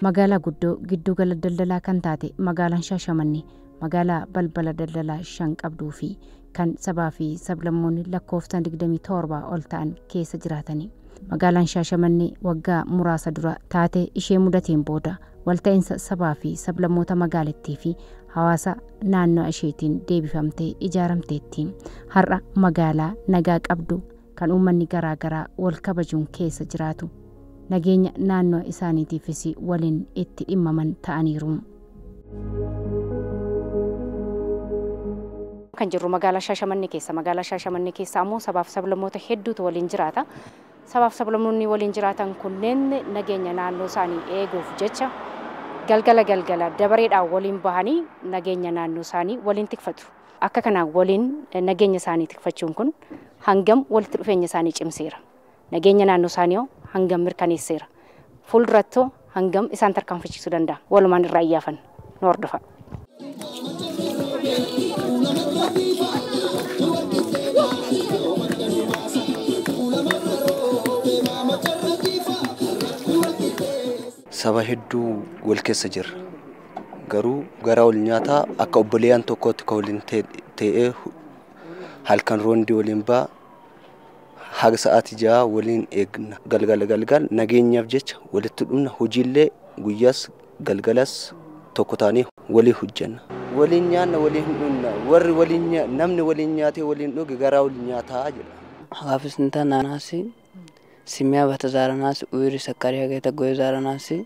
Magaalaa guddoo gidduu gala daldalaa kan taate magaalaan Shaashamannee magaalaa balbala daldalaa shan qabduu fi kan sabaa fi sablammoonni lakkoofsaan 27 ol ta'an keessa jiraatani. Magaalaan Shaashamannee waggaa muraasa dura taate ishee mudateen booda walta'insa sabaa fi sablammoota magaalittii fi hawaasa naannoo isheetiin deebifamtee ijaaramteetti. Har'a magaalaa nagaa qabdu kan uummanni garaa garaa wal kabajuun keessa jiraatu, nageenya naannoo isaaniitiifis waliin itti dhimmaman ta'aniiru. Kan jirru magaalaa Shaashamannee keessa. Magaalaa Shaashamannee keessa ammoo sabaaf sablammoota hedduutu waliin jiraata. Sabaaf sablammoonni waliin jiraatan kunneen nageenya naannoo isaanii eeguuf jecha galgala galgala dabareedhaan waliin bahanii nageenya naannoo isaanii waliin tikfatu. Akka kanaan waliin nageenya isaanii tikfachuun kun hangam walitti dhufeenya isaanii cimseera? Nageenya naannoo isaaniihoo hangam mirkaneesseera? Fuuldurattoo hangam isaan tarkaanfachiisuu danda'a? Walumaan irraa iyyaafanna. Nu hordofaa! Saba hedduu wal keessa jirra. garuu gara ol nyaataa akka obboleeyyan tokkootti ka waliin ta'ee halkan roondi waliin ba'a haga sa'aatii ja'a waliin eegna galgala galgal nageenyaaf jecha walitti dhumna hojiillee guyyaas galgalas tokko taanee walii hojjenna. waliin nyaanna waliin dhunna warri waliin namni waliin nyaatee waliin dhuge garaa ol nyaataa jedha. Haafis nta naanaasi, Simeya bata zaara naasi, Uiri sakariya geta goye zaara naasi,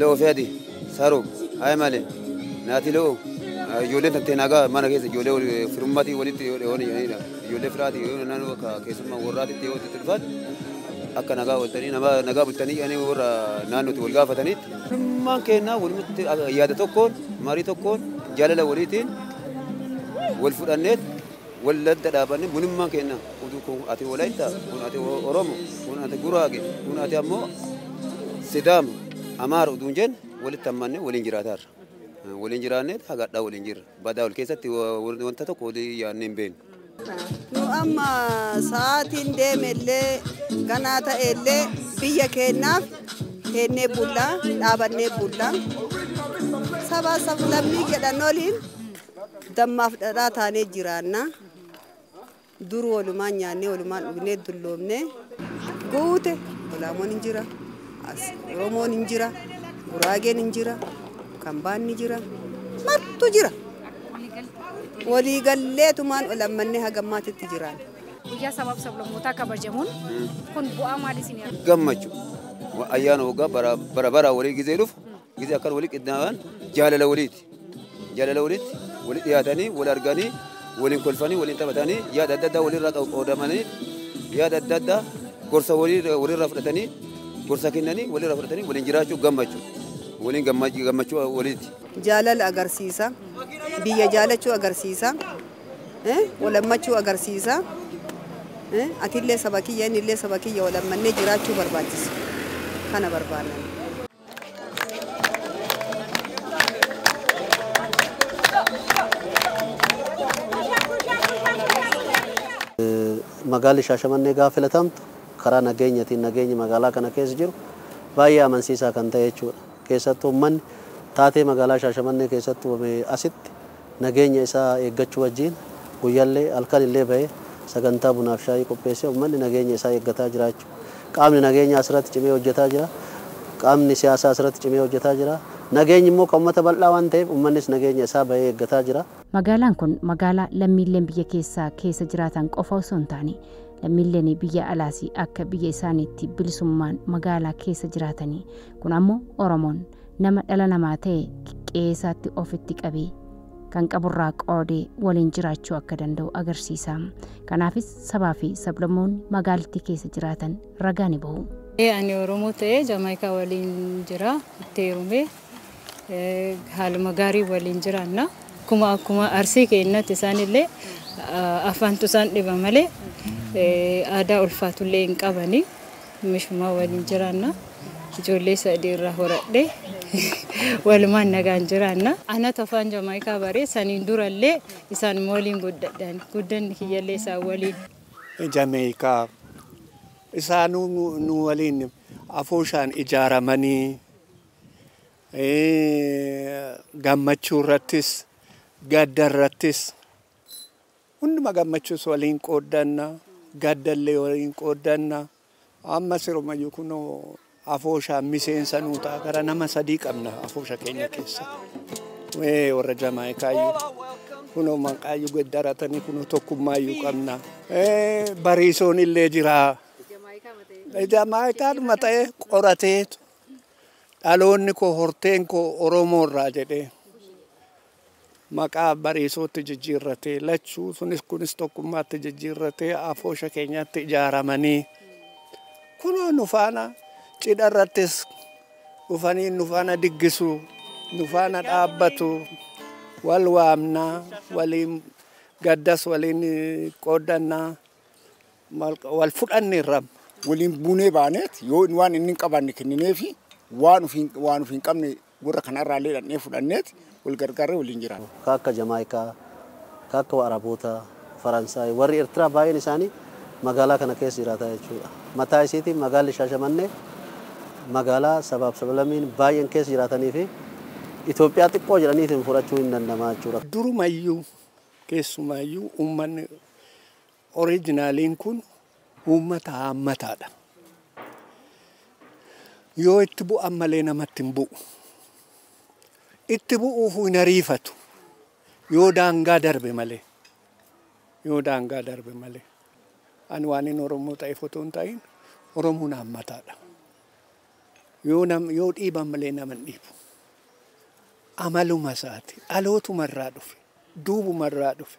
Lo'oo fi ati sarub haye male naati lo'oo ijoolleen tantee nagaa mana keessa ijoollee firummaatii walitti yoo dheewan jedhanidha ijoollee firaati yoo naannoo akka keessummaa warraatitti yoo itti dhufan akka nagaa waltanii namaa nagaa bultanii jedhanii warra naannootti wal gaafataniitti firummaan kennaa walumatti yaada tokkoon marii tokkoon jaalala waliitiin wal fudhanneet Wal adda dhaabanne bunummaa keenya utuu kun ati Wolaittaa, kun ati Oromo, kun ati Guraage, kun ati ammoo Sidaama, Amaara utuu hin jenne walitti hammannee waliin jiraataarra. Waliin jiraanneet haga hadhaa waliin jirra. Badaa wal keessatti wanta tokko walii yaannee hin beeknu. Nu amma sa'aatiin deemellee ganaa ta'ellee biyya keenyaaf teennee bulla, dhaabannee bulla. Sabaa sablammii jedhan oliin Dammaaf dhadhaa taanee jiraanna. Dur walumaan nyaannee walumaan dhugnee dulloomne. Guute Olaamoon hin jira. As Oromoon hin jira. Guraageen hin jira. Kambaan ni jira. Martu jira. Walii galleetumaan ol ammannee haga ammaatitti jiraan. Guyyaa sabaaf sablammootaa kabajamuun kun bu'aa maalii isin gammachuu ayyaana waggaa bara bara walii gizee dhufu Gizee akkan wali qindaa'an jaalala waliiti. Jaalala walitti wali dhiyaatanii wal arganii waliin kolfanii waliin taphatanii yaada adda addaa walirraa qoodamanii yaada adda addaa gorsa walirraa fudhatanii gorsa kennanii walirraa fudhatanii waliin jiraachuu gammachuu waliin gammachuu waliiti. Jaalala agarsiisa. Biyya jaalachuu agarsiisa. Walammachuu agarsiisa. Atillee saba kiyya innillee saba kiyya walammannee jiraachuu barbaachisa. Kana barbaanna. Magaalli Shaashamannee gaafa filatamtu karaa nageenyatiin nageenyi magaalaa kana keessa jiru baay'ee amansiisaa kan ta'e jechuudha. Keessattuu uummanni taatee magaalaa Shaashamannee keessatti uumame asitti nageenya isaa eeggachuu wajjiin guyyallee halkan illee bahee sagantaa bunaaf shaayii qopheessee ummanni nageenya isaa eeggataa jiraachuu qaamni nageenyaa asirratti cimee hojjetaa jira qaamni siyaasaa asirratti cimee hojjetaa jira nageenyi immoo kan ummata bal'aa waan ta'eef ummannis nageenya isaa bahee eeggataa jira. Magaalaan kun magaalaa lammiilleen biyya keessaa keessa jiraatan qofa osoo hin taane lammiilleen biyya alaas akka biyya isaaniitti bilisummaan magaalaa keessa jiraatanii kun ammoo Oromoon Nama dhala namaa ta'e qe'ee isaatti ofitti qabee kan qaburraa qoodee waliin jiraachuu akka danda'u agarsiisa. Kanaafis sabaa fi sablammoonni magaalittii keessa jiraatan ragaa ni bahu. Ee ani Oromoo ta'ee Jamaayikaa waliin jira, itti heerumee eh, haaluma gaarii waliin jiraanna. Akkuma akkuma arsii keennatti isaanillee ah, afaantu isaan dhiba malee eh, aadaa ulfaatullee hin qabani. Mishumaa waliin jiraanna. Ijoollee sadii irraa horadhe. Walumaan nagaan jiraanna. Anatu afaan Jamaayikaa bare. Saniin durallee isaanuma waliin guddadhe ani. Guddanni kiyyallee isaan waliin. Jameeyikaa. Isaanuu nu waliin afooshaan ijaaramanii gammachuu irrattis gadda irrattis Hunduma gammachuus waliin qooddanna, gaddallee waliin qooddanna. Amma sirumayyuu kunoo afooshaan miseensa nuu ta'a. Gara nama sadii qabna afoosha keenya keessa. Ee warra Jamaayikaayyuu kunoo maqaayyuu geddaratanii kunoo tokkummaayyuu qabna. Ee bariisoon illee jira. Jamaayikaadhuma ta'ee qorateetu dhaloonni koo horteen koo Oromoo irraa jedhee. maqaa Bariisootti jijjiirrate lachuu sunis kunis tokkummaatti jijjiirrate afoosha keenyaatti ijaaramanii kunoo nu faana cidha irrattis dhufanii nu faana diggisu nu faana dhaabbatu wal waamna waliin gaddas waliin eh, qooddanna mal- wal fudhanne irra waliin buunee baaneet yoo waan inni hin qabanne kennineefi waan ofiin waan ofiin qabne Warra kanarraallee dhaqnee fudhanneet wal gargaarree waliin jiraanna. Ka akka Jamaayikaa, ka akka Wa'arabootaa, Faransaay, warri Ertiraa baay'een isaanii magaalaa kana keessa jiraataa jechuudha. Mataa isiitiin magaalli Shaashamannee magaalaa sabaaf sablamiin baay'een keessa jiraatanii fi Itoophiyaa xiqqoo jedhaniitiin fudhachuun hin danda'ama jechuudha. Durumayyuu keessumaayyuu uummanni Oriijinaaliin kun uummata haammataadha. Yoo itti bu'an malee namatti hin bu'u. Itti bu'uufuu hin ariifatu. Yoo daangaa darbe malee. Yoo daangaa darbe malee. Ani waan inni Oromoo ta'eef otoo hin ta'in Oromoon haammataadha. Yoo nam yoo dhiiban malee nama hin dhiibu. Amaluma isaati. Dhalootuma irraa dhufe. Duubuma irraa dhufe.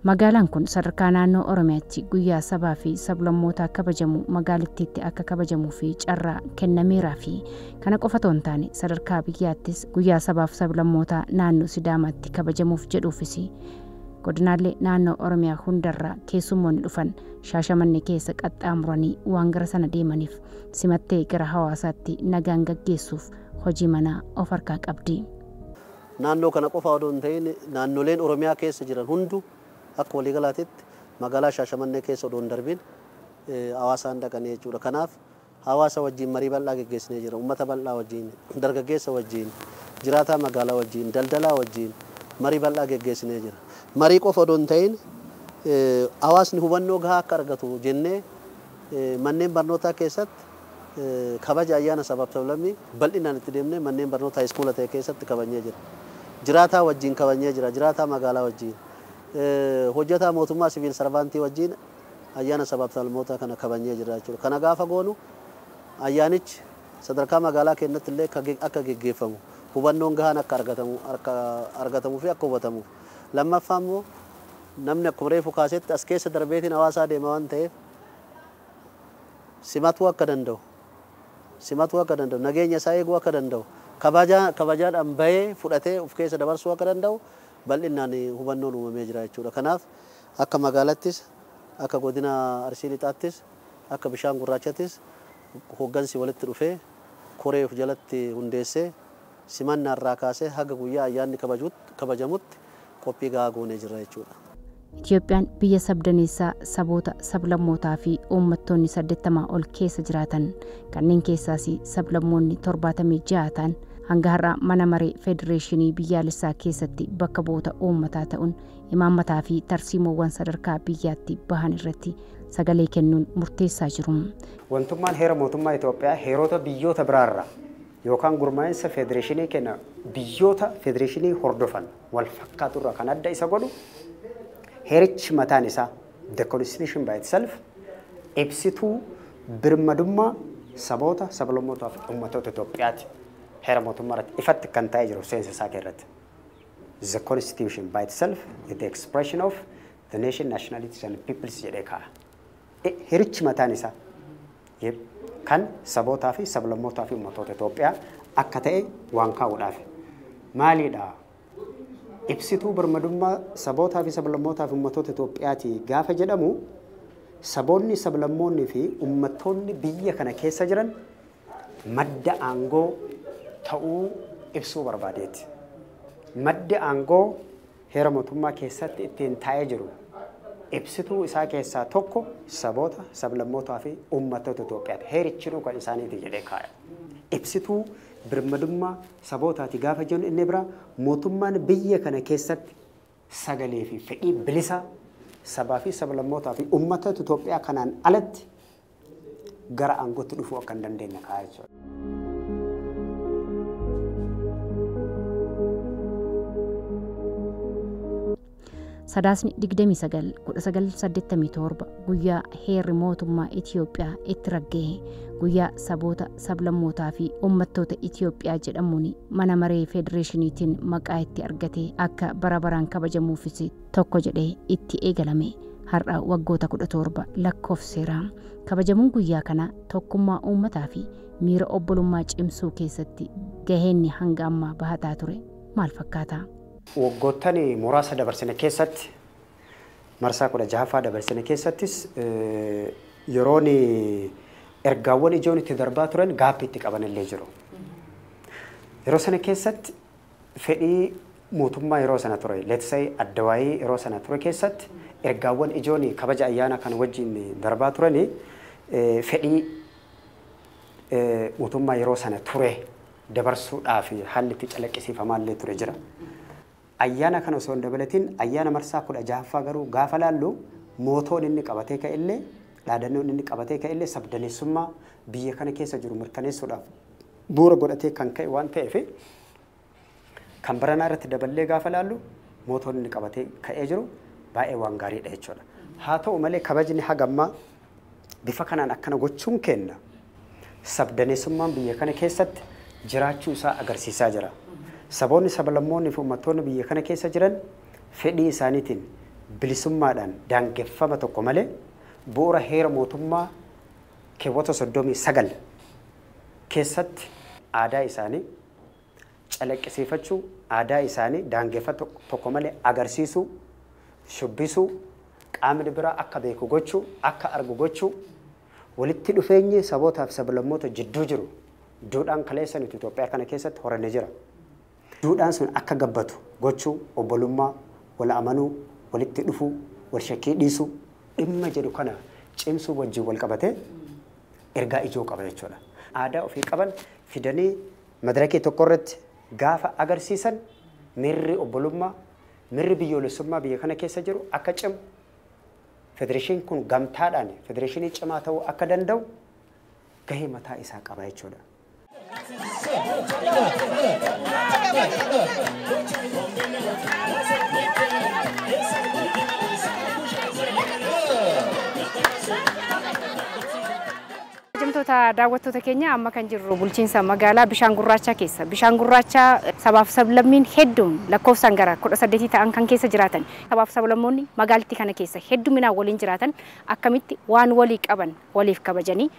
Magaalaan kun sadarkaa naannoo Oromiyaatti guyyaa sabaa fi sablammootaa kabajamu magaalittiitti akka kabajamuu fi carraa kennameeraa fi kana qofa otoo hin taane sadarkaa biyyaattis guyyaa sabaaf sablammootaa naannoo Sidaamaatti kabajamuuf jedhuufis godinaalee naannoo Oromiyaa hundarraa keessummoonni dhufan Shaashamannee keessa qaxxaamuranii waan gara sana deemaniif simattee gara hawaasaatti nagaan gaggeessuuf hojii manaa of harkaa qabdi. Naannoo kana qofaa odoo hin ta'iin naannoleen Oromiyaa keessa jiran hunduu akka waliigalaatitti magaalaa Shaashamannee keessa odoo hin darbiin Hawaasaan dhaqanii jechuudha. Kanaaf hawaasa wajjin marii bal'aa geggeessinee jirra. Ummata bal'aa wajjin, dargaggeessa wajjin, jiraataa magaalaa wajjin, daldalaa wajjin marii bal'aa geggeessinee jirra. Marii qofa odoo hin ta'iin hawaasni hubannoo gahaa akka argatu jennee manneen barnootaa keessatti kabaja ayyaana sabaaf sablammii bal'inaan itti deemnee manneen barnoota haayiskuula ta'e keessatti kabajnee jirra. Jiraataa wajjiin kabajnee jira. Jiraataa magaalaa wajjiin, hojjataa mootummaa siviil sarvaantii wajjiin ayyaana sabaaf sablammootaa kana kabajnee jirra jechuudha. Kana gaafa goonu ayyaanichi sadarkaa magaalaa keennatti illee akka geggeeffamu, hubannoon gahaan akka argatamu akka argatamuu fi akka hubatamuuf. Lammaffaa immoo namni akkuma reefu kaasetti as keessa darbeetiin hawaasaa deema waan ta'eef, simatuu akka danda'u, simatuu akka danda'u, nageenya isaa eeguu akka danda'u, kabaja kabajaadhaan bahee fudhatee of keessa dabarsuu akka danda'u bal'innaan hubannoon uumamee jira jechuu dha. Kanaaf akka magaalattis, akka godina Arsii Lixaattis, akka Bishaan Gurraachattis hoggansi walitti dhufee koree of jalatti hundeessee simannaa irraa kaasee haga guyyaa ayyaanni kabajuutti kabajamutti qophii gahaa goonee jirra jechuudha. Itiyoophiyaan biyya sabdaneessaa saboota, sablammootaa fi uummattoonni 80 ol keessa jiraatan, kanneen keessaas sablammoonni 76 ta'an hanga har'aa Mana Maree Federeeshinii Biyyaalessaa keessatti bakka bu'oota uummataa ta'uun imaammataa fi tarsiimoowwan sadarkaa biyyaatti bahan irratti sagalee kennuun murteessaa jiru. Wantummaan Heera Mootummaa Itoophiyaa heerota biyyoota biraa irraa yookaan gurmaa'insa federeeshinii keenya biyyoota federeeshinii hordofan wal fakkaatu irraa kan adda isa godhu heerichi mataan isaa the constitution by itself ibsituu birmadummaa saboota, sablammootaa fi ummatoota Itoophiyaati. Heera mootummaa irratti ifatti kan taa'ee jiru seensa isaa keessatti. The constitution by itself is the expression of the nation, nationalities and peoples jedhee kaa'a. Heerichi mataan isaa kan sabootaa fi sablammootaa fi ummatoota Itoophiyaa akka ta'e waan kaa'uudhaafi. Maaliidha? Ibsituu birmadummaa sabootaa fi sablammootaa fi ummatoota Itoophiyaati gaafa jedhamu saboonni, sablammoonni fi ummattoonni biyya kana keessa jiran madda aangoo ta'uu ibsuu barbaadeeti. Maddi aangoo Heera Mootummaa keessatti ittiin taa'ee jiru ibsituu isaa keessaa tokko saboota, sablammootaa fi uummattoota Itoophiyaati. Heerichinuu kan isaaniiti jedhee kaaya. Ibsituu birmadummaa sabootaati gaafa jennu inni biraa mootummaan biyya kana keessatti sagalee fi fedhii bilisaa sabaa fi sablammootaa fi uummattoota Itoophiyaa kanaan alatti gara aangootti dhufuu akka hin dandeenye kaa'aa jechuudha. Sadaasni 29-1987 guyyaa heerri mootummaa Itiyoophiyaa itti raggaa'e guyyaa saboota sablammootaa fi uummattoota Itiyoophiyaa jedhamuun mana maree federeeshiniitiin maqaa itti argate akka bara baraan kabajamuufis tokko jedhee itti eegalame har'a waggoota 17 lakkoofseera. Kabajamuun guyyaa kana tokkummaa uummataa fi miira obbolummaa cimsuu keessatti gaheenni hanga ammaa bahataa ture maal fakkaata? Waggoottan muraasa dabarsine keessatti, marsaa 16ffaa dabarsine keessattis yeroon ergaawwan ijoon itti darbaa turan gaabbii itti qaban illee jiru. Yeroo sana keessatti fedhii mootummaa yeroo sana ture, let's say Addawaayii yeroo sana ture keessatti ergaawwan ijoon kabaja ayyaana kana wajjin darbaa turani fedhii mootummaa yeroo sana ture dabarsuudhaaf haalli itti calaqqisiifamaa illee ture jira. Ayyaana kana osoo hin dabalatin ayyaana marsaa kudha jahaffaa garuu gaafa laallu mootoon inni qabatee ka'e illee dhaadannoon inni qabatee ka'e illee sabdaneessummaa biyya kana keessa jiru mirkaneessuudhaaf bu'uura godhatee kan ka'e waan ta'eef kan baranaa irratti daballee gaafa ilaallu mootoon inni qabatee ka'ee jiru baay'ee waan gaariidha jechuudha. Haa ta'u malee kabajni haga ammaa bifa kanaan akkana gochuun keenna sabdaneessummaan biyya kana keessatti jiraachuu isaa agarsiisaa jira. Saboonni sablammoonni fi uummattoonni biyya kana keessa jiran fedhii isaaniitiin bilisummaadhaan daangeffama tokko malee bu'uura heera mootummaa keewwata 39 keessatti aadaa isaanii calaqqisiifachuu, aadaa isaanii daangeffata tokko malee agarsiisuu, shubbisuu, qaamni biraa akka beeku gochuu, akka argu gochuu, walitti dhufeenyi sabootaa fi sablammoota jidduu jiru duudhaan kaleessa nuti Itoophiyaa kana keessatti horanne jira. Duudhaan sun akka gabbatu gochuu, obbolummaa, wal amanuu, walitti dhufuu, wal shakkii dhiisuu. dhimma jedhu kana cimsuu wajjin wal qabatee ergaa ijoo qaba jechuu dha. aadaa ofii qaban fidanii madirakii tokko irratti gaafa agarsiisan miirri obbolummaa, mirri biyyoolessummaa biyya kana keessa jiru akka cimu, federeeshiin kun gamtaadhaan federeeshinii cimaa ta'uu akka danda'u gahee mataa isaa qaba jechuu dha. Hojjamtoota daawwattoota keenya amma kan jirru bulchiinsa magaalaa Bishaan Gurraachaa keessa. Bishaan Gurraachaa sabaaf sablammiin hedduun lakkoofsaan gara kudha saddeetii ta'an kan keessa jiraatan. Sabaaf sablammoonni magaalattii kana keessa hedduminaan waliin jiraatan akkamitti waan walii qaban waliif kabajanii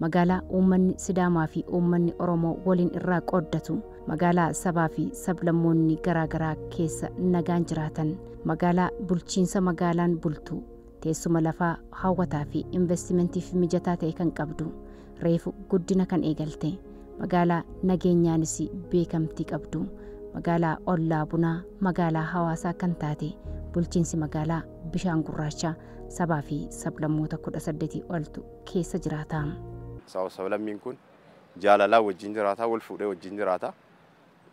Magaalaa uummanni Sidaamaa fi uummanni Oromoo waliin irraa qooddatu, magaalaa sabaa fi sablammoonni garaa garaa keessa nagaan jiraatan, magaalaa bulchiinsa magaalaan bultu, teessuma lafaa hawwataa fi investimentiif mijataa ta'e kan qabdu, reefu guddina kan eegalte, magaalaa nageenyaanis beekamtii qabdu, magaalaa ollaa bunaa, magaalaa hawaasaa kan taate bulchiinsi magaalaa Bishaan Gurraacha sabaa fi sablammoota 18 oltu keessa jiraata. Sabaaf sablammiin kun jaalalaan wajjin jiraata, wal fuudhee wajjin jiraata,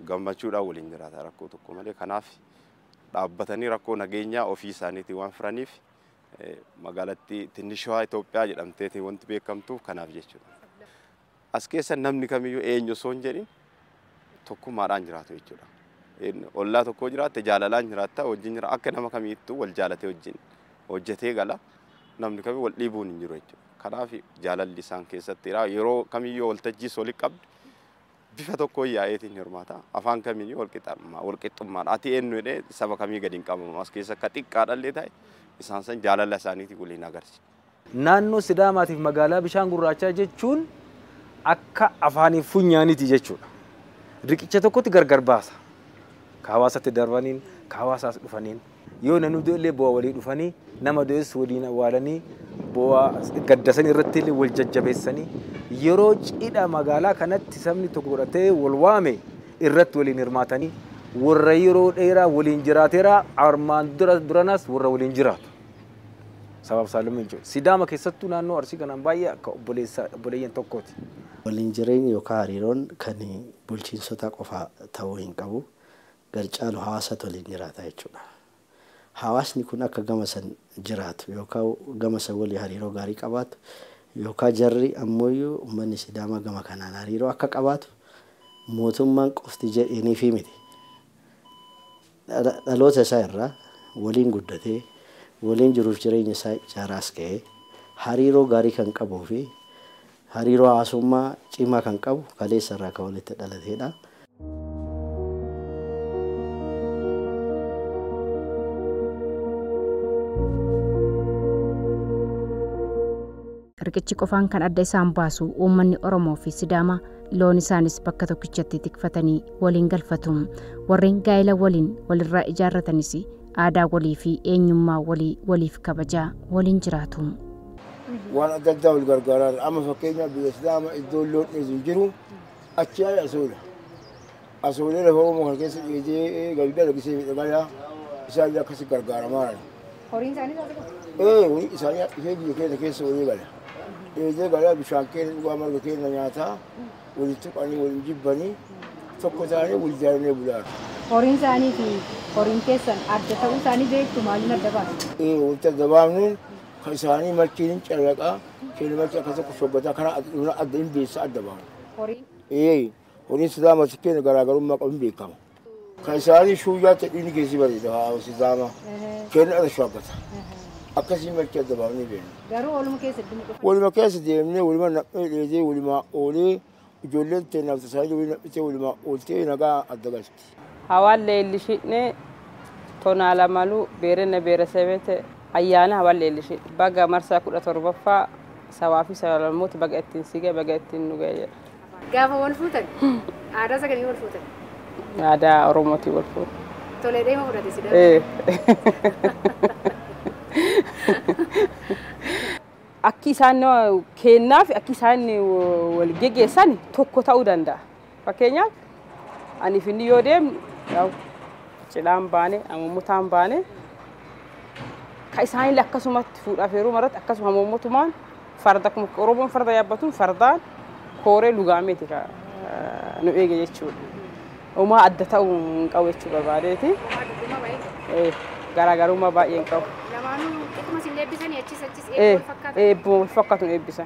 gammachuudhaan waliin jiraata rakkoo tokko malee. Kanaaf dhaabbatanii rakkoo nageenyaa ofii isaaniitiin waan furaniif magaalattii Tinnishawaa Itoophiyaa jedhamteetiin wanti beekamtuuf kanaaf jechuudha. As keessa namni kamiyyuu eenyu osoo hin jedhin tokkummaadhaan jiraatu jechuudha. Ollaa tokkoo jiraatte jaalalaan jiraatta wajjin jira akka nama kamiittuu wal jaalatee wajjin hojjetee gala namni kamii wal dhiibuun hin jiru jechuudha. Kanaaf jaalalli isaan keessatti jira yeroo kamiyyuu waltajjii soli qabdu bifa tokko yaa'eetiin hirmaata afaan kamiyyuu walqixxummaa walqixxummaadha ati eenyu jedhee saba kamii gadi hin qabamu as keessa akka xiqqaadhallee ta'e isaan san jaalala isaaniitiin waliin agarsiisa. Naannoo Sidaamaatiif magaalaa bishaan gurraachaa jechuun akka afaaniif funyaaniiti jechuudha. Riqicha tokkotti gargar baasa. Ka hawaasatti darbaniin, ka hawaasa as dhufaniin. Yoo namni du'e illee boo'a walii dhufanii, nama du'es waliin awwaalanii, boo'a gadda san irratti illee wal jajjabeessanii, yeroo cidha magaalaa kanatti sabni tokko godhatee wal waame irratti waliin hirmaatanii, warra yeroo dheeraa waliin jiraateera, armaan dura duranas warra waliin jiraatu. Sabaaf saallammii jechuudha. Sidaama keessattuu naannoo Arsii kanaan baay'ee akka obboleessa obboleeyyan tokkooti. Waliin jireenyi yookaa hariiroon kan bulchiinsotaa qofa ta'uu hin qabu. Gar caalu hawaasatu waliin jiraata jechuudha. Hawaasni kun akka gama san jiraatu yookaa gama san walii hariiroo gaarii qabaatu yookaa jarri ammooyyuu ummanni Sidaamaa gama kanaan hariiroo akka qabaatu mootummaan qofti jedheeniifii miti. Dhaloota isaa irraa waliin guddatee, waliin jiruuf jireenya isaa ijaaraa as ga'e, hariiroo gaarii kan qabuu fi hariiroo hawaasummaa cimaa kan qabu kaleessa irraa kan walitti dhalateedha. Riqichi qofaan kan adda isaan baasu uummanni Oromoo fi Sidaamaa loon isaanis bakka tokkichatti tikfatanii waliin galfatu. Warreen gaa'ela waliin walirraa ijaarratanis aadaa walii fi eenyummaa walii waliif kabajaa waliin jiraatu. waan adda addaa wal gargaaraan amma fakkeenyaaf biyya Sidaama iddoon loon dheedu hin jiru achi asoodha. Asoolee lafa Oromoo kana keessa dheedee gadi dalagisee fedhe balaa isaan illee akkasi gargaaramaa jiran. Horiin isaanii taate qofa. Ee horii isaanii hadhifee biyya keenya keessa walii gala. Dheedee galaa bishaan keenya dhugaa marga keenya nyaataa waliin tuqanii waliin jibbanii tokko taanee wal jaalanee bulaa. Horiin isaanii fi horiin keessan adda ta'uu isaanii beektu maaliin adda baasu? Ee wanta gabaabneen kan isaanii machiin hin callaqaa keenya machi akka tokko shoggataa karaa adda hin beessa adda baana. Horiin Ee Kun Islaama si keenya garaagarummaa qabu hin beekamu. Kan isaanii shuuyyaa ta'e dhiigni keessi bareeda haa Islaama keenya irra shaabbata. Akkasii malkii adda baafnee beekna. Garuu ooluma keessa idduma dhufa. Waluma keessa deemnee waluma naqnee dheedee walumaa oolee ijoolleen teennaaf tasaanii waliin naqnitee walumaa ooltee nagaa adda galti. Hawal leellishidhne tonaa lamalu beerenne beeresebete ayyaana hawal leellishidhne baga marsaa 17ffaa sabaa fi sabalamoota baga ittiin si gahe baga ittiin nu gahe jedha. Gaafa wal fuutan aadaa isa kamiin wal fuutan? Aadaa Oromootiin wal fuune. Tolee dheema fudhate si dhabee. Akki isaan keennaaf akki isaan wal geggeessan tokko ta'uu danda'a. Fakkeenyaaf anii fi inni yoo deemnu yaa'u cidhaan baane hamuummutaan baane ka isaanillee akkasumatti fuudhaaf heeruma irratti akkasuma hamuummutumaan farda akkuma Oromoon farda yaabbatuun fardaan kooree lugaameeti ka eh, nu eege jechuudha. Homaa adda ta'uu hin qabu jechuu barbaadeeti. Eh, Garaagarummaa baay'ee hin qabu. Lamaanuu akkuma isin eebbisanii achis achis Eh, eebbuma wal fakkaatu. eebbuma wal fakkaatu nu eebbisa.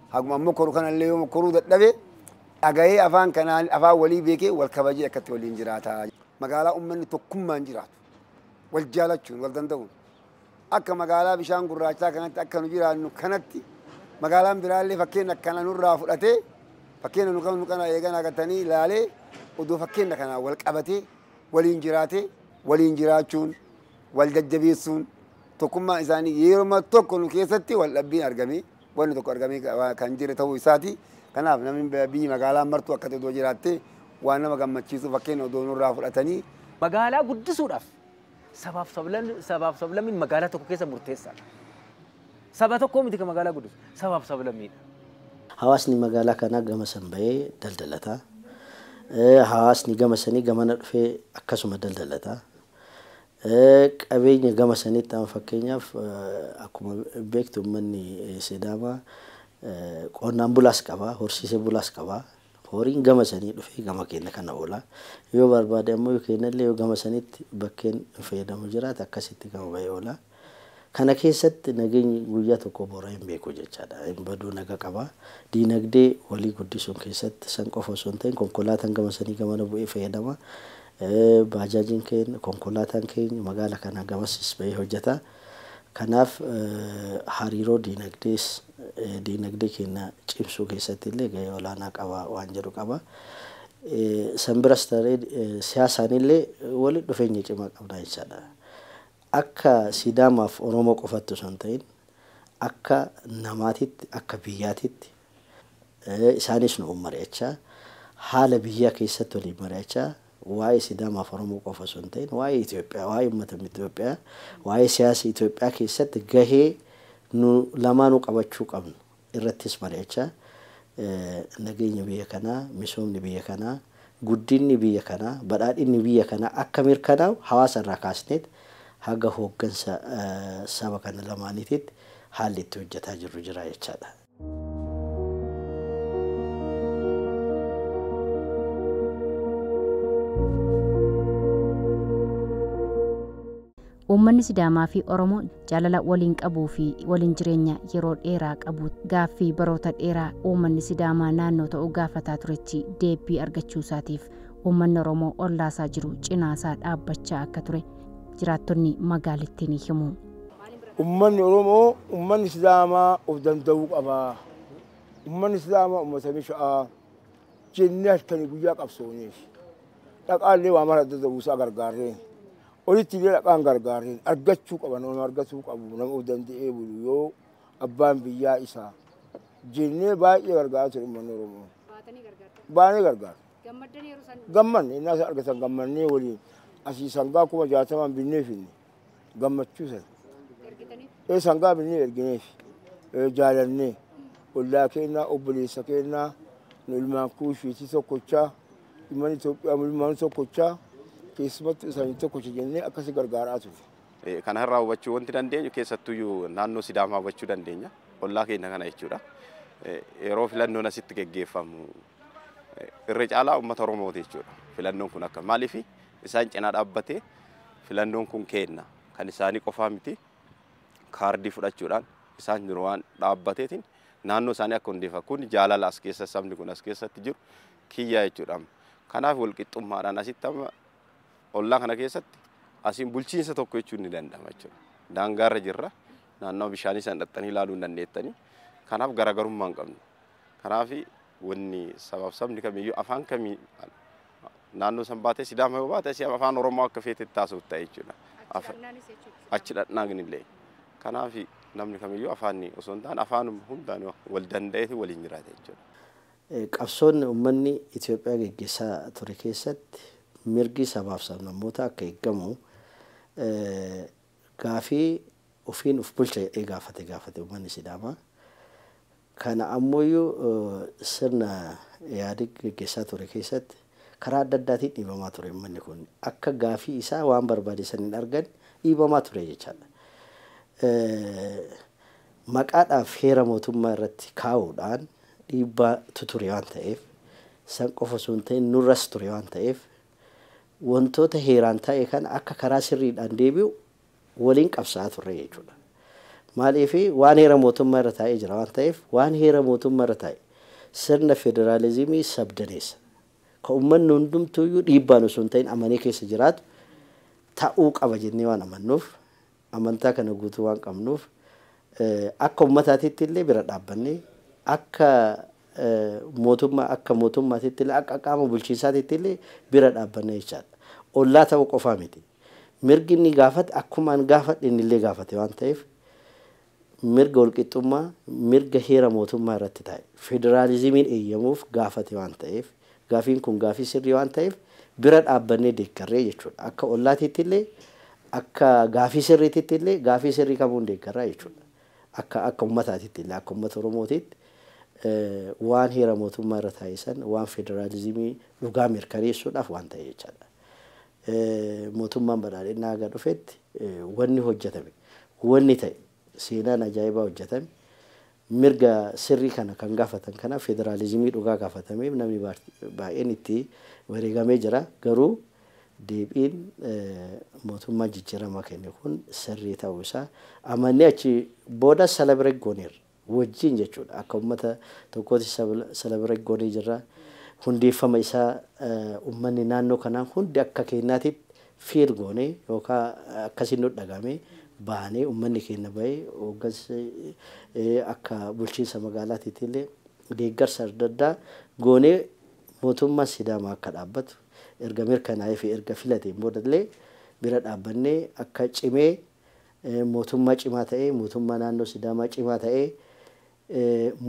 Haguma an mokkoru kanallee yoo mokkoruu dadhabe dhagayee afaan kanaan afaan walii beekee wal kabajee akkatti waliin jiraata. Magaalaa ummanni tokkummaan jiraatu, wal jaalachuun, wal danda'uun akka magaalaa bishaan gurraachaa kanatti akka nu jiraannu kanatti magaalaan biraallee fakkeenna kana nurraa fudhatee fakkeenna nu qabnu kana eeganaa gatanii ilaalee odoo fakkeenna kanaan wal qabatee waliin jiraatee waliin jiraachuun wal jajjabeessuun tokkummaan isaanii yeruma tokko nu keessatti wal dhabbiin argamee wanni tokko argamee ka- kan jire ta'uu isaati. Kanaaf namni b- biyyi magaalaa martuu akkatti odoo jiraattee waan nama gammachiisu fakkeenya odoo nurraa fudhatanii Magaalaa guddisuudhaaf sabaaf sablan- sabaaf sablammiin magaalaa tokko keessa murteessaadha. Saba tokkoo miti kan magaalaa guddisu, sabaaf sablammiidha. Hawaasni magaalaa kanaa gama san bahee daldalata. Eh, Hawaasni gama sanii gamana dhufee akkasuma daldalata. qabeenya gama saniitti amma fakkeenyaaf akkuma beektu ummanni Sidaamaa qonnaan bulaas qaba, horsiisee bulaas qaba. Horiin gama sanii dhufee gama keenya kana oola. Yoo barbaade ammoo yoo kennallee yoo gama sanitti bakkeen fayyadamu jiraate akkasitti gama bahee oola. Kana keessatti nageenyi guyyaa tokko bora hin beeku jechaadha. Hin baduu naga qaba. Diinagdee walii guddisuun keessatti san qofa osoo hin ta'in konkolaataan gama sanii gamana bu'ee fayyadama. Baajaajiin keenya, konkolaataan keenya magaala kanaa gamasis bahee hojjata. Kanaaf hariiroo diinagdees diinagdee keenya cimsuu keessatti illee gahee olaanaa qaba waan jedhu qaba. San biras ta'ee siyaasaan illee walitti dhufeenya cimaa qabna jechaadha. Akka Sidaamaaf Oromoo qofatti osoo hin ta'in akka namaatitti, akka biyyaatitti isaanis nu mari'achaa, haala biyyaa keessatti waliin mari'achaa waa'ee Sidaamaaf Oromoo qofa osoo hin ta'in waa'ee Itoophiyaa, waa'ee uummata Itoophiyaa, waa'ee siyaasa Itoophiyaa keessatti gahee nu lamaanuu qabachuu qabnu irrattis mari'achaa nageenyi biyya kanaa, misoomni biyya kanaa, guddinni biyya kanaa, badhaadhinni biyya kanaa akka mirkanaa'u hawaasa irraa kaasneet haga hooggansa saba kana lamaaniitiitti haalli itti hojjataa jirru jira jechaa dha. Uummanni Sidaamaa fi Oromoon jaalala waliin qabuu fi waliin jireenya yeroo dheeraa qabu gaaffii baroota dheeraa uummanni Sidaamaa naannoo ta'uu gaafataa turetti deebbii argachuu isaatiif uummanni Oromoo ollaa isaa jiru cinaa isaa dhaabbachaa akka ture jiraattonni magaalittii ni himu. Uummanni Oromoo uummanni Sidaamaa of danda'uu qaba, uummanni Sidaamaa uummata misha'aa jennee halkanii guyyaa qabsooneef dhaqaa illee waa mara adda ta'uu isaa gargaarreen Olitti illee dhaqaan gargaareen argachuu qaban nama argatuu qabu nama of danda'ee bulu yoo abbaan biyyaa isaa jennee baay'ee gargaaraa ture uummanni Oromoo. Baatanii gargaartan. Baanee gargaara. Gammaddan yeroo san. Gammanne innaa isa argatan gammannee waliin asii sangaa kuma jaatamaan binnee finne gammachuu sana. Ergitanii. Ee sangaa binnee ergineef ee jaalannee ollaa keennaa obboleessa keennaa nu ilmaan kuushiitii tokkochaa Uummanni Itoophiyaa mulmaan tokkochaa keessumattuu isaanii tokkocha jennee akkasi gargaaraa turre. Kana irraa hubachuu wanti dandeenyu keessattuyyuu naannoo Sidaamaa hubachuu dandeenya. Ollaa keenya kana jechuudha. Yeroo filannoon asitti geggeeffamu irra caalaa uummata Oromooti jechuudha. Filannoon kun akka maaliif isaan cinaa dhaabbatee filannoon kun keenna kan isaanii qofaa miti kaardii fudhachuudhaan isaan jiru waan dhaabbateetiin naannoo isaanii akka hundeeffamu kun jaalala as keessa sabni kun as keessatti jiru kiyyaa jechuudha amma. Kanaaf walqixxummaadhaan asitti amma ollaa kana keessatti asiin bulchiinsa tokko jechuun ni danda'ama jechuudha. Daangaarra jirra. Naannoo bishaanii san dhaxxanii ilaaluu hin dandeettanii. Kanaaf garaagarummaa hin qabnu. Kanaaf wanni sabaaf sabni kamiyyuu afaan kamii naannoo san baatee sidaama yoo baate si afaan oromoo akka feete taasisuuf ta'e jechuudha. Achi dhaqnaan illee. Kanaaf namni kamiyyuu afaanni osoo hin taane afaan hundaan wal danda'eetu waliin jiraata jechuudha. Qabsoon ummanni Itoophiyaa geggeessaa ture keessatti mirgi sabaaf sablammootaa akka eeggamu gaafii ofiin of bulcha jedhee gaafate gaafate ummanni Sidaamaa. Kana ammooyyuu sirna Ihaadig geggeessaa ture keessatti karaa adda addaatiin dhiibamaa ture ummanni kun. Akka gaafii isaa waan barbaade san hin arganne dhiibamaa ture jechaadha. Maqaadhaaf heera mootummaa irratti kaa'uudhaan dhiibbaa tu ture waan ta'eef, san qofa osoo hin ta'in nurras ture waan ta'eef, wantoota heeraan ta'e kana akka karaa sirriidhaan deebi'u waliin qabsaa'aa turre jechuu dha. Maaliif waan heera mootummaa irra taa'ee jira waan ta'eef, waan heera mootummaa irra taa'e, sirna federaalizimii sabdaneessa, ka ummanni hundumtuu iyyuu dhiibbaan osoo hin ta'in amanee keessa jiraatu ta'uu qaba jennee waan amannuuf Amantaa kana guutuu waan qabnuuf akka ummataatiitti illee bira dhaabbannee akka mootummaa akka mootummaatiitti illee akka qaama bulchiinsaatiitti illee bira dhaabbanna jechaadha. Ollaa ta'uu qofaa miti. Mirgi inni gaafate akkumaan gaafadhe inni illee gaafate waan ta'eef mirga walqixxummaa mirga heera mootummaa irratti taa'e federaalizimiin eeyyamuuf gaafate waan ta'eef Gaafiin kun gaafii sirrii waan ta'eef bira dhaabbannee deeggarree jechuudha. Akka ollaatiitti illee, akka gaafii sirriititti illee gaafii sirrii kamuun deeggarraa jechuudha. Akka akka ummataatitti illee akka ummata Oromootiitti waan heera mootummaa irra taa'e san waan federaalizimii dhugaa mirkaneessuudhaaf waan ta'e jechaadha. Mootummaan badhaadhinnaa haga dhufetti wanni hojjetame wanni ta'e seenaan ajaa'ibaa hojjetame Mirga sirrii kana kan gaafatan kanaaf federaalizimii dhugaa gaafatameef namni baay'een itti wareegamee jira. Garuu deebiin mootummaan jijjiiramaa kenne kun sirrii ta'uu isaa amannee achi booda celebrate gooneerra. Wajjin jechuudha. Akka ummata tokkootti celebrate goonee jirra. Hundeeffama isaa ummanni naannoo kanaa hundi akka keenyaatitti feel goonee yookaa akkasiin nut dhagahamee baanee ummanni keenna bahee hooggansi akka bulchiinsa magaalaatiitiillee deeggarsa adda addaa goonee mootummaan Sidaamaa akka dhaabbatu erga mirkanaa'ee fi erga filateen boodallee bira dhaabbannee akka cimee mootummaa cimaa ta'ee mootummaa naannoo Sidaamaa cimaa ta'ee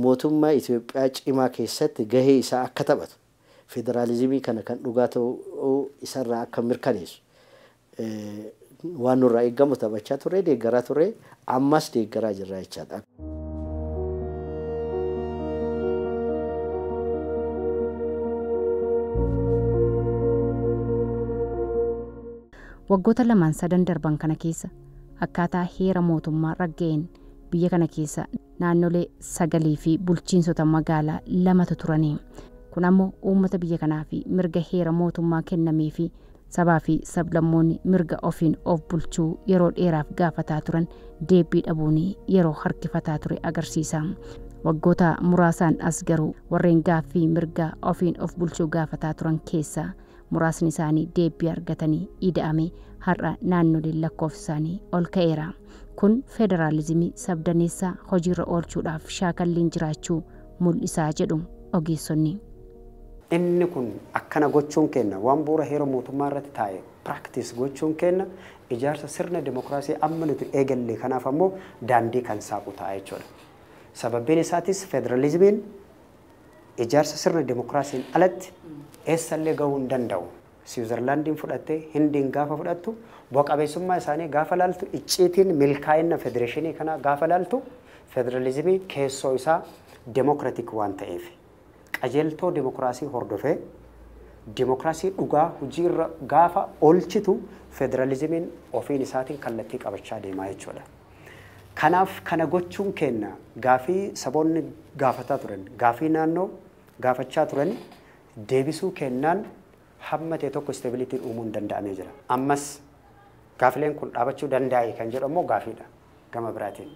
mootummaa Itoophiyaa cimaa keessatti gahee isaa akka taphatu federaalizimii kana kan dhugaa ta'uu isarraa akka mirkaneessu waan nurraa eegamu taphachaa turre, deeggaraa turre, ammas deeggaraa jirra jechaadha. Waggoota lamaan sadan darban kana keessa akkaataa heera mootummaa ragga'een biyya kana keessa naannolee sagalii fi bulchiinsota magaalaa lamatu turani. Kun ammoo uummata biyya kanaaf mirga heera mootummaa kennamee fi sabaa fi sablammoonni mirga ofiin of bulchuu yeroo dheeraaf gaafataa turan deebbii dhabuun yeroo harkifataa ture agarsiisa. Waggoota muraasaan as garuu warreen gaaffii mirga ofiin of bulchuu gaafataa turan keessaa muraasni isaanii deebbii argatanii ida'ame har'a naannoleen lakkoofsi isaanii ol ka'eera. Kun federaalizimii sabdaneessaa hojiirra oolchuudhaaf shaakalliin jiraachuu mul'isaa jedhu ogeessonni. Inni kun akkana gochuun keenna waan bu'uura heera mootummaa irratti taa'e practice gochuun keenna ijaarsa sirna demokraasii amma nuti eegalle kanaaf ammoo daandii kan saaqu ta'a jechuudha. Sababbiin isaatis federalizimiin ijaarsa sirna demokraasiin alatti eessallee gahuu hin danda'u. Siwizarlaandiin fudhatte, Hindiin gaafa fudhattu, bu'a qabeessummaa isaanii gaafa laaltu, icciitiin milkaa'inna federeeshinii kanaa gaafa laaltu, federalizimii keessoo isaa demokratik waan ta'eefi. Qajeeltoo demokraasii hordofee demokraasii dhugaa hojii irra gaafa oolchitu federalizimiin ofiin isaatiin kallattii qabachaa deema jechuudha. Kanaaf kana gochuun keenna gaafii saboonni gaafataa turan, gaafii naannoo gaafachaa turan deebisuu keennaan hamma ta'e tokko stability uumuun danda'amee jira. Ammas gaafileen kun dhaabachuu dandaa'e kan jedhu ammoo gaafiidha gama biraatiin.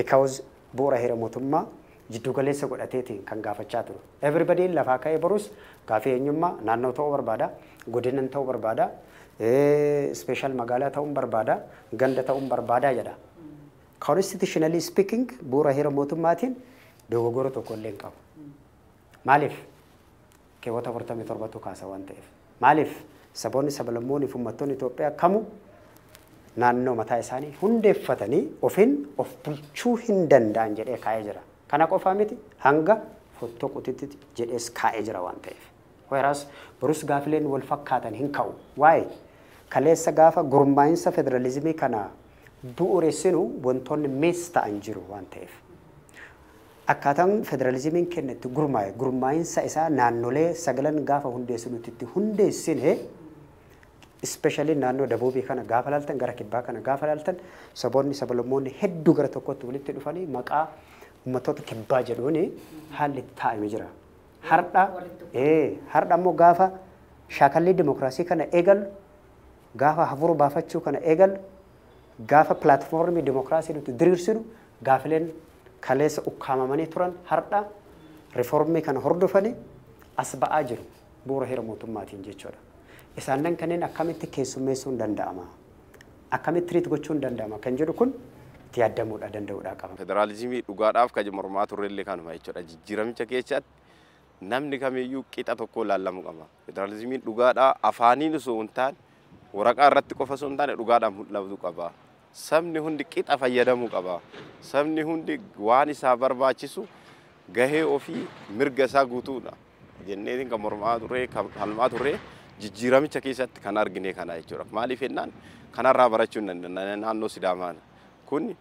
Because Bu'ura heera motummaa jidduu galeessa godhateetiin kan gaafachaa turu. Everybody'n lafaa ka'ee borus gaafii eenyummaa, naannoo ta'uu barbaada, godinan ta'uu barbaada, special magaalaa ta'uun barbaada, ganda ta'uun barbaada jedha. Constitutionally speaking bu'ura heera motummaatiin dogogora tokko illee hin qabu. Maaliif? keewwata 47 tu kaasa waan ta'eef. Maaliif? Saboonni, sablammooni fi ummattoonni Itoophiyaa kamuu naannoo mataa isaanii hundeeffatanii ofin of bulchuu hin danda'an jedhee kaa'ee jira. Kana qofaa miti hanga fottoquutitti jedhees kaa'ee jira waan ta'eef. Whereas borus gaafileen wal fakkaatan hin ka'u. Why? Kaleessa gaafa gurmaa'insa federalizimii kana bu'uressinu wantoonni miss ta'an jiru waan ta'eef. Akkaataan federalizimiin kenna itti gurmaa'e gurmaa'insa isaa naannolee sagalan gaafa hundeessu nuti itti hundeessine especially naannoo Dabuubii kana gaafa ilaaltan gara Kibbaa kana gaafa ilaaltan saboonni sabalummoonni hedduu gara tokkotti walitti dhufanii maqaa ummattoota Kibbaa jedhuun haalli itti taa'ame jira. Hardha ee hardha immoo gaafa shaakallii dimokiraasii kana eegalu gaafa hafuura baafachuu kana eegalu Gaafa platformii demokraasii nuti diriirsinu gaafileen kaleessa ukkaamamanii turan hardha reformii kana hordofanii as ba'aa jiru bu'ura heera mootummaatiin jechuudha. Isaannan kanneen akkamitti keessummeessuun danda'ama? Akkamitti treat gochuun danda'ama kan jedhu kun itti yaaddamuudha, danda'uudhaa qaba. Federaalizimii dhugaadhaaf kan mormaa turrellee kanuma jechuudha. Jijjiiramicha keessatti namni kamiyyuu qixa tokkoon laallamu qaba. Federaalizimiin dhugaadhaa afaaniin osoo hin taane waraqaa irratti qofa osoo hin taane dhugaadhaan mul'atu qaba. Sabni hundi qixa fayyadamuu qaba. Sabni hundi waan isaa barbaachisu gahee ofii mirga isaa guutuudha jenneetiin kan mormaa turre kan falmaa turre jijjiiramicha keessatti kan argine kana jechuudha. Maaliif jennaan kanarraa barachuu hin dandeenye naannoo Sidaamaa kun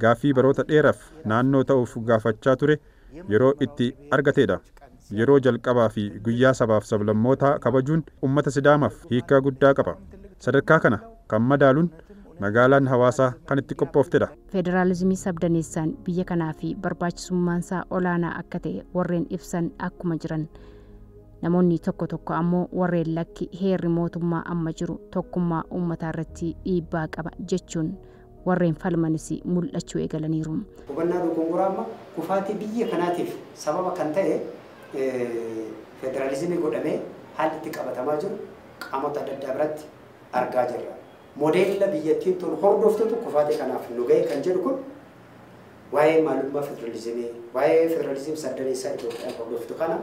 gaaffii baroota dheeraf naannoo ta'uuf gaafachaa ture yeroo itti argateedha. Yeroo jalqabaa fi guyyaa sabaaf sablammootaa kabajuun ummata Sidaamaf hiikkaa guddaa qaba. Sadarkaa kana kan madaalun magaalaan Hawaasaa kan itti qophooftedha. Federaalizimii sabdaneessaan biyya kanaa fi barbaachisummaansaa olaanaa akka ta'e warreen ibsan akkuma jiran, namoonni tokko tokko ammoo warreen lakki heerri mootummaa amma jiru tokkummaa ummataarratti dhiibbaa qaba jechuun warreen falmanis mul'achuu eegalaniiru. Hubannaa dogongoraa amma kufaatii biyya kanaatiif sababa kan ta'e federaalizimii godhamee haalli itti qabatamaa jiru qaamota adda addaa biratti argaa jirra. Modeella biyyattiin tun hordoftutu kufaatii kanaaf nu ga'e kan jedhu kun waa'ee maalummaa federaalizimii, waa'ee federaalizimii saddaneessaa Itoophiyaan hordoftu kana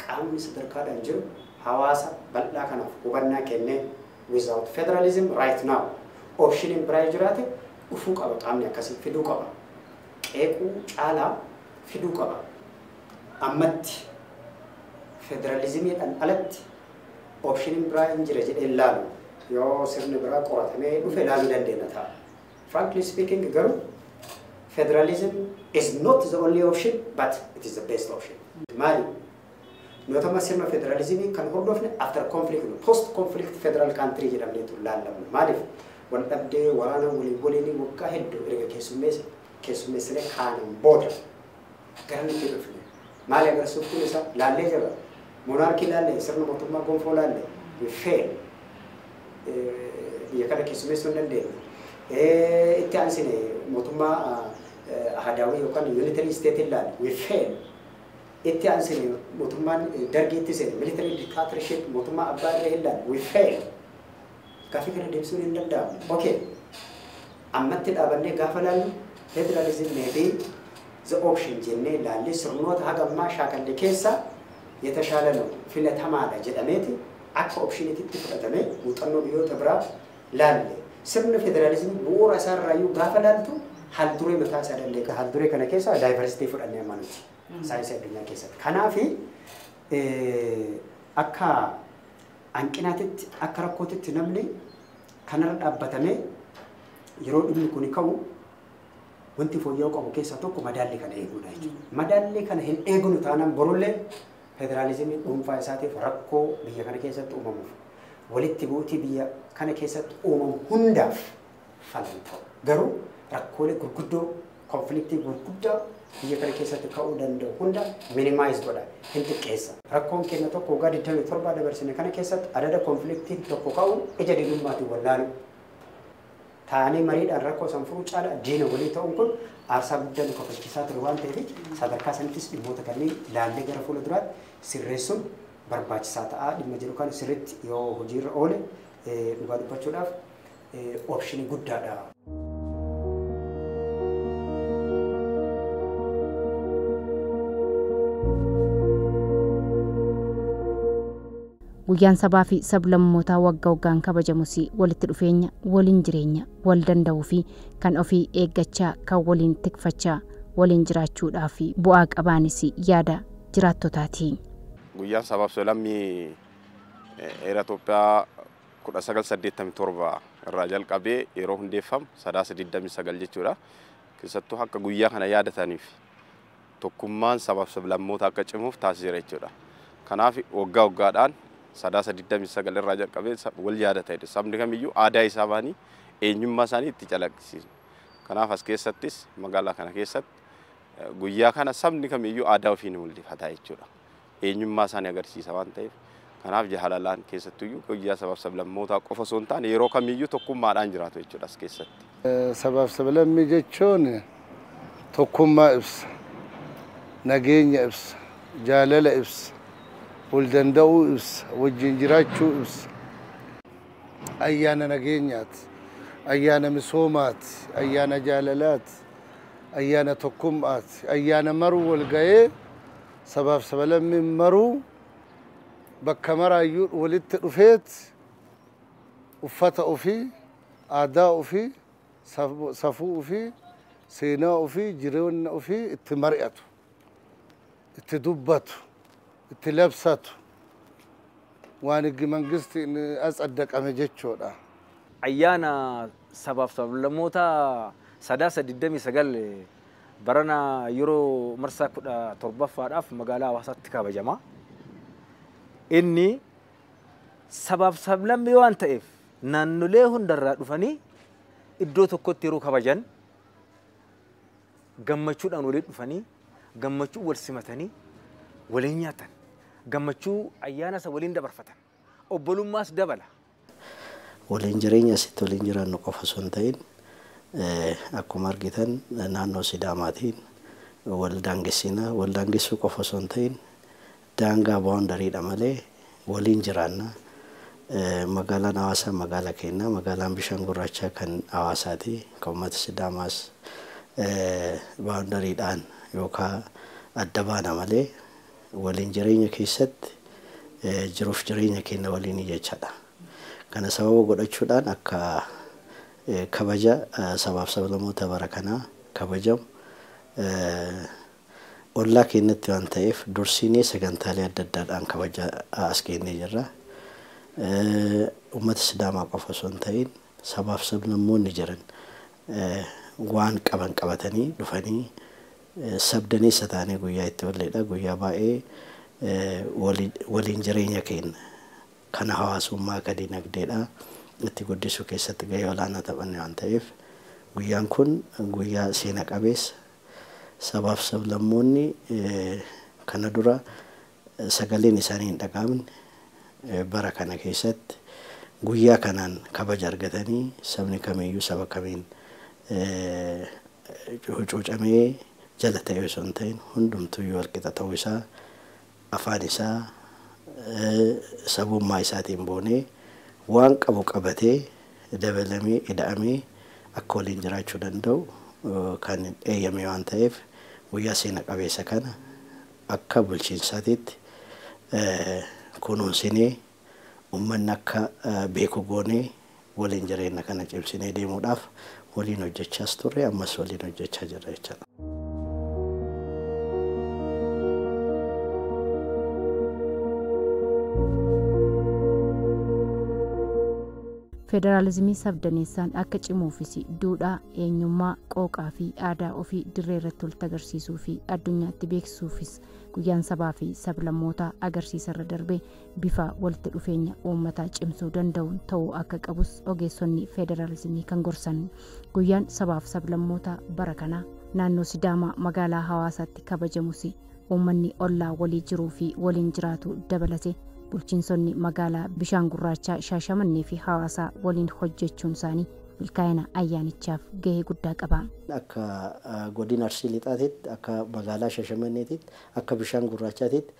qaamni sadarkaadhaan jiru hawaasa bal'aa kanaaf hubannaa kennee without federalism right now optioniin biraa yoo jiraate dhufuu qaba qaamni akkasii fiduu qaba qeequu caalaa fiduu qaba ammatti federalizimiidhaan alatti optioniin biraa hin jira jedhee laalu yoo sirni biraa qoratamee dhufe laaluu dandeenya ta'a. Frankly speaking garuu federalism is not the only option but it is the best option. Maali? Nootama sirna federalizimii kan hordofne after conflict no post conflict federal country jedhamneetu laallamu. Maaliif? Waldhabdee waraana walii waliinii waggaa hedduu erga keessummeesse keessummeessinee kaaneen booda garamitti dhufne? Maali agarsiisuuf kun isa laallee jirra. Monaarkii laallee, sirna mootummaa gonfoo laallee, we fail. Biyya kana keessummeessuu hin dandeenye. Itti aansine mootummaa ahadaawii yookaan unitary state laalle, we fail. Itti aansee mootummaan Dargii itti seene, military dictatorship, mootummaa abbaa irree hin laanne, we failed. Gaaffii kana deebisuun hin danda'amu. Ok, ammatti dhaabannee gaafa laallu federalism may be the option jennee laallee sirnoota haga ammaa shaakalle keessaa yetashaala nu, filatamaadha jedhameeti akka optionititti fudhatamee muuxannoo biyyoota biraa laalle. Sirni federalism bu'uura isaa irraayyuu gaafa laaltu haal duree mataa isaa danda'e qaba. Haal duree kana keessaa diversity fudhanne amma nuti. saayinsii addunyaa keessatti. Kanaaf akka hanqinaatitti akka rakkootitti namni kanarra dhaabbatamee yeroo dhimmi kun ka'u wanti fooyya'uu qabu keessaa tokko madaallii kana eeguudha jechuudha. Madaallii kana hin eegnu taanaan borullee federaalizimii dhuunfaa isaatiif rakkoo biyya kana keessatti uumamuuf walitti bu'uutii biyya kana keessatti uumamu hundaaf fala hin ta'u. Garuu rakkoolee gurguddoo konfiliktii gurguddaa biyya kana keessatti ka'uu danda'u hunda minimize godha, hin xiqqeessa. Rakkoon keenya tokko waggaa 27 dabarsine kana keessatti adada konfiliktiin tokko ka'uun ija diinummaatiin wallaaluu. Taa'anii mariidhaan rakkoo san furuu caala diina walii ta'uun kun aarsaa guddaa nu kafalchiisaa ture waan ta'eef sadarkaa sanittis dhimmoota kanneen laallee gara fuula duraatti sirreessuun barbaachisaa ta'a. Dhimma jedhu kana sirriitti yoo hojiirra oole dhugaa dubbachuudhaaf option guddaadha. Guyyaan sabaa fi sablammootaa wagga waggaan kabajamus walitti dhufeenya, waliin jireenya, wal danda'uu fi kan ofii eeggachaa, kan waliin tikfachaa, waliin jiraachuudhaaf bu'aa qabaanis yaada jiraattotaati. Guyyaan sabaaf sablammii Eera Itoophiyaa 1987 irraa jalqabee yeroo hundeeffamu sadaasa 29 jechuudha. Keessattuu akka guyyaa kana yaadataniif tokkummaan sabaaf sablammoota akka cimuuf taasiseera jechuudha. Kanaaf waggaa waggaadhaan sadaasa 29 irraa jalqabee wal yaadatani sabni kamiyyuu aadaa isaa baanii eenyummaa isaanii itti calaqqisiisu. Kanaaf as keessattis magaalaa kana keessatti guyyaa kana sabni kamiyyuu aadaa ofii ni mul'ifata jechuudha. eenyummaa isaanii agarsiisa waan ta'eef kanaaf jaalalaan keessattuyyuu guyyaa sabaaf sablammootaa qofa osoo hin taane yeroo kamiyyuu tokkummaadhaan jiraatu jechuudha as keessatti. Sabaaf sablammii jechuun tokkummaa ibsa, nageenya ibsa, jaalala ibsa, wal danda'uu ibsa, wajjin jiraachuu ibsa. Ayyaana nageenyaati, ayyaana misoomaati, ayyaana jaalalaati, ayyaana tokkummaati, ayyaana maruu wal ga'ee Sabaaf sabalammiin maruu bakka maraayyuu walitti dhufeet uffata ofii, aadaa ofii, safuu ofii, seenaa ofii, jireenya ofii itti mari'atu, itti dubbatu, itti labsatu waan higgi mangistiin atsaddaqame jechuudha. Ayyaana sabaaf sablammootaa Sadaasa 29 barana yeroo marsaa kudha torbaffaadhaaf magaalaa Hawaasaatti kabajama. Inni sabaaf sablammii waan ta'eef naannolee hundarraa dhufanii iddoo tokkotti yeroo kabajan gammachuudhaan waliin dhufanii gammachuu wal simatanii waliin nyaatan gammachuu ayyaana isa waliin dabarfatan obbolummaas dabala Waliin jireenya asitti waliin jiraannu qofa osoo hin ta'in akkuma argitan naannoo Sidaamaatiin wal daangessina. Wal daangessuu qofa osoo hin ta'in daangaa, boundary, dha malee waliin jiraanna. Magaalaan Hawaasaa magaala keenya. Magaalaan Bishaan Gurraachaa kan Hawaasaati. Kan uummata Sidaamaas boundary dhaan yookaa adda baana malee Waliin jireenya keessatti jiruuf jireenya keenya waliinii jechadha. Kana sababa godhachuudhaan akka kabaja sabaaf sablamoota bara kanaa kabajamu ollaa keenyatti waan ta'eef dursiinee sagantaalee adda addaadhaan kabajaa as geennee jirra. Uummata Sidaamaa qofa osoo hin ta'iin sabaaf sablammoonni jiran waan qaban qabatanii dhufanii sabdaneessa taanee guyyaa itti olleedha. Guyyaa baay'ee waliin jireenya keenya kana hawaasummaa ka dinagdeedha itti guddisuu keessatti gahee olaanaa taphanne waan ta'eef guyyaan kun guyyaa seena qabeessa sabaaf sablammoonni kana dura sagaleen isaanii hin dhaga'amne bara kana keessatti guyyaa kanaan kabaja argatanii sabni kamiyyuu saba kamiin hucuucamee jala ta'ee osoo hin ta'in hundumtuyyuu walqixa ta'uu isaa afaan isaa sabummaa isaatiin boonee waan qabu qabatee dabalamee ida'amee akka waliin jiraachuu danda'u kan eeyyame waan ta'eef guyyaa seena qabeessa kana Akka bulchiinsaatiitti kunuunsinee ummanni akka beeku goonee waliin jireenna kana cimsinee deemuudhaaf waliin hojjechaas turre ammas waliin hojjechaa jirra jechaadha. Federaalizimii sabdaneessaan akka cimuufis duudhaa, eenyummaa, qooqaa fi aadaa ofii dirree irratti walitti agarsiisuu fi addunyaatti beeksisuufis Guyyaan Sabaa fi Sablammootaa agarsiisa irra darbee bifa walitti dhufeenya uummataa cimsuu danda'uun ta'uu akka qabus ogeessonni federaalizimii kan gorsan Guyyaan Sabaaf Sablammootaa bara kanaa naannoo Sidaamaa magaalaa Hawaasaatti kabajamus uummanni ollaa walii jiruu fi waliin jiraatu dabalate bulchiinsonni magaalaa bishaan gurraachaa shaashamannee fi hawaasaa waliin hojjechuun isaanii milkaa'ina ayyaanichaaf gahee guddaa qaba. akka godina arsii lixaatiitti akka magaalaa shashamanneetiitti akka bishaan gurraachaatiitti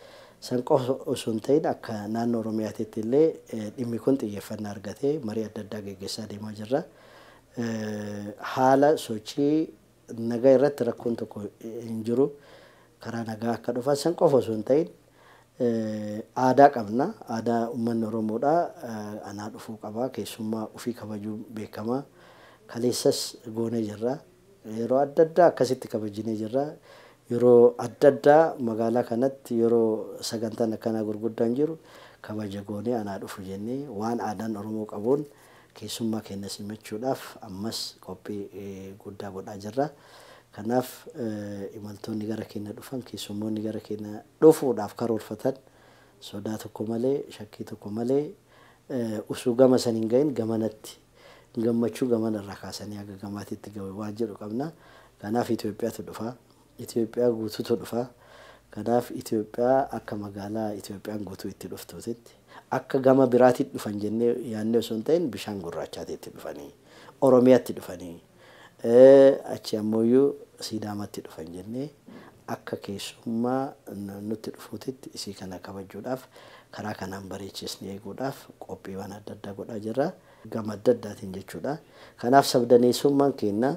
san qofa osoo hin ta'in akka naannoo oromiyaatiitti illee dhimmi kun xiyyeeffannaa argatee marii adda addaa geggeessaa deemaa jirra haala sochii Nagaa irratti rakkoon tokko hin jiru. Karaa nagaa akka dhufan san qofa osoo hin ta'in aadaa qabna. Aadaa ummanni Oromoodhaa anaa dhufuu qaba. Keessummaa ufii kabajuun beekama. Kaleessas goonee jirra. Yeroo adda addaa akkasitti kabajinee jirra. Yeroo adda addaa magaalaa kanatti yeroo sagantaan akkanaa gurguddaan jiru kabaja goonee anaa dhufu jennee waan aadaan Oromoo qabuun Keessummaa keenya simachuudhaaf ammas qophii guddaa godhaa jirra. Kanaaf imaltoonni gara keenya dhufan, keessummoonni gara keenya dhufuudhaaf karoorfatan sodaa tokko malee, shakkii tokko malee usuu gama san hin gahin gamanatti gammachuu gamana irraa kaasanii haga gamaatitti gahu waan jedhu qabna. Kanaaf Itoophiyaatu dhufa. Itoophiyaa guutuutu dhufa. Kanaaf Itoophiyaa akka magaalaa Itoophiyaan guutuu itti dhuftuutitti, akka gama biraatitti dhufan jennee yaadnee osoo hin ta'iin bishaan gurraachaatitti dhufanii, Oromiyaatti dhufanii, achii ammooyyuu Siidaamaatti dhufan jennee akka keessummaa nutti dhufuutitti isii kana kabajuudhaaf karaa kanaan bareechiisnee eeguudhaaf qophiiwwan adda addaa godhaa jirra. Gama adda addaatiin jechuudha. Kanaaf sabdaneessummaan keenya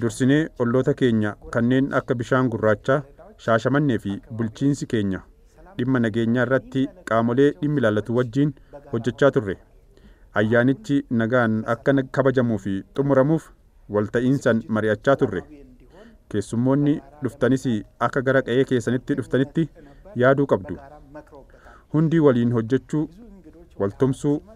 Dursinee olloota keenya kanneen akka Bishaan Gurraachaa, Shaashamannee fi bulchiinsi keenya dhimma nageenyaa irratti qaamolee dhimmi ilaallatu wajjiin hojjechaa turre. Ayyaanichi nagaan akka kabajamuu fi xumuramuuf walta'iinsan mari'achaa turre. Keessummoonni dhuftanis akka gara qa'ee keessanitti dhuftanitti yaaduu qabdu. Hundi waliin hojjechuu, waltumsuu,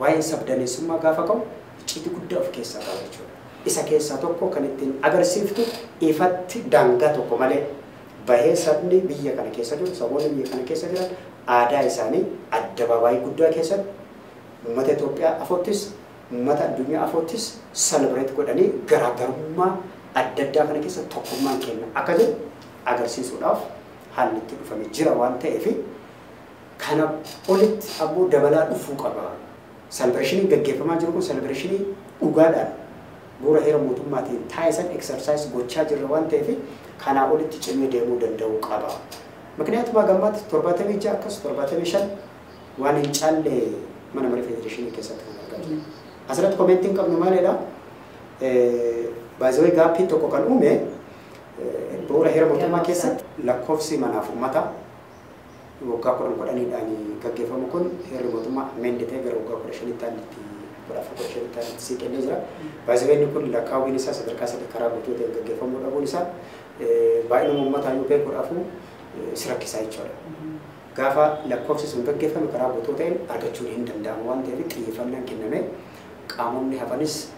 Waa'een sabdaneessummaa gaafa ka'u icciitii guddaa of keessaa qaba jechuudha. Isa keessaa tokko kan ittiin agarsiiftu ifatti daangaa tokko malee bahee sabni biyya kana keessa jiru, saboonni biyya kana keessa jiran aadaa isaanii addabaabaayii guddaa keessatti uummata Itoophiyaa afoottis, uummata addunyaa afoottis celebrate godhanii garaagarummaa adda addaa kana keessa tokkummaan keenya akka jiru agarsiisuudhaaf haalli itti dhufame jira waan ta'eef Kana olitti ammoo dabalaa dhufuu qaba. Salbireshiniin gaggeeffamaa jiru kun salbireshinii dhugaadhaan bu'uura heera mootummaatiin taa'e san exercise gochaa jirra waan ta'eef kanaa olitti cimee deemuu danda'uu qaba. Mikniyaatuma haga ammaatti 76 akkas 75 waan hin caalle mana marii federeeshinii keessatti kan argaa jiru. Asirratti komentiin qabnu maalidha? By the way gaaffii tokko kan uume bu'uura heera mootummaa keessatti lakkoofsi manaaf uummataa waggaa kudhan kudhaniidhaan gaggeeffamu kun heerri mootummaa amend ta'e gara waggaa kudha shanitti aanni itti kudha afur kudha shanitti aanni itti siiqillee jira. Baay'isabee inni kun lakkaawwiin isaa sadarkaa sadii karaa guutuu ta'een gaggeeffamuu dhabuun isaa baay'inuma uummataa yoo ta'e kudha afur si rakkisaa jechuudha. Gaafa lakkoofsi sun gaggeeffame karaa guutuu ta'een argachuun hin danda'amu waan ta'eef xiyyeeffannaan kennamee qaamonni hafanis